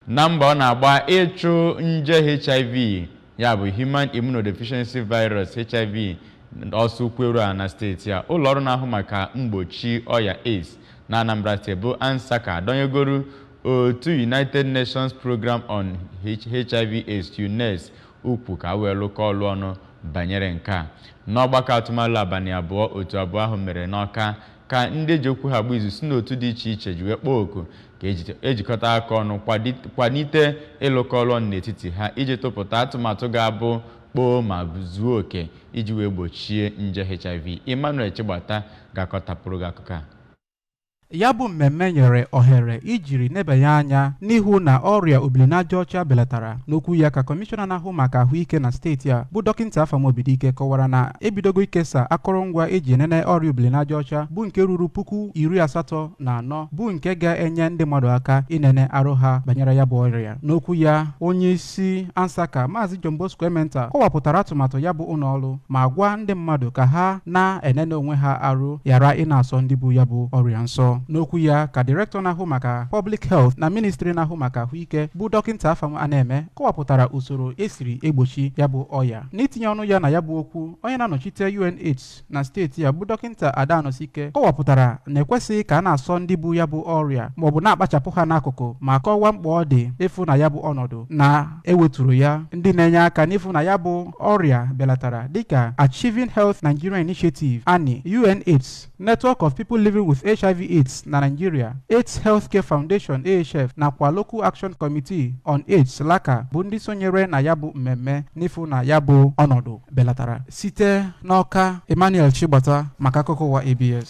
Na mbọ ọ na-agba ịchụ nje HIV ya bụ Human Immunodeficiency Virus, HIV, ọsọ ụkwụ eru ana na steeti a, ụlọọrụ na-ahụ maka mgbochi ọya AIDS na Anambra steeti bụ ANSACA adọnyegoro otu United Nations Program on HIV AIDS, UNAIDS, ụkwụ ka wee lụkọ ọlụ ọnụ banyere nke a. N'ọgbakọ atụmalo abalị abụọ otu abụọ ahụ mere n'Ọka ka ndị eji okwu ha agba izu si n'otu dị iche iche ji wee kpọọ oku ka ejikọta aka ọnụ kwalite ịlụkọ ọlụ ọnụ n'etiti ha iji tụpụta atụmatụ ga-abụ kpoo ma zuo oke iji wee gbochie nje HIV. Emmanuel Chigbata ga-akọtapụrụ gị akụkọ a. Ya bụ mmemme nyere ohere ijiri nebanye anya n'ịhụ na ọrịa obilinajaọcha belatara. n'okwu ya ka kọmishọna na-ahụ maka ahụike na steeti a bụ dọkịnta afam obidike kọwara na ebidogo ikesa akụrụngwa eji enene ọrịa obilinajaọcha bụ nke ruru puku iri asatọ na anọ bụ nke ga-enye ndị mmadụ aka inene arụ ha banyere ya bụ ọrịa n'okwu ya onye isi ansaka maazị john bosco ementa kọwapụtara atụmatụ ya bụ ụlọ ọrụ ma gwa ndị mmadụ ka ha na-enene onwe ha arụ ghara ịna-asọ ndị bu ya bụ ọrịa nsọ n'okwu ya ka direktọ na-ahụ maka public health na ministri na-ahụ maka ahụ ahụike bụ dọkịnta Afam Anaeme kọwapụtara usoro esiri egbochi ya bụ ọya n'itinye ọnụ ya na ya bụ okwu onye na-anọchite UNAIDS na steeti a bụ dọkịnta Ada Anọsike kọwapụtara na ekwesịghị ka a na-asọ ndị bu ya bụ ọrịa ma ọ bụ na-akpachapụ ha n'akụkụ ma kọwaa mkpa ọ dị ịfụ na ya bụ ọnọdụ na eweturu ya ndị na-enye aka n'ịfụ na ya bụ ọrịa belatara dịka Achieving Health Nigeria Initiative AHNi UNAIDS Network of People Living with HIV AIDS na Nigeria, AIDS Healthcare Foundation AHF nakwa Local Action Committee on AIDS LACA bụ ndị sonyere na ya bụ mmemme n'ịfụ na ya bụ ọnọdụ belatara. Site n'Ọka, Emmanuel Chigbata maka akụkọ ụwa ABS.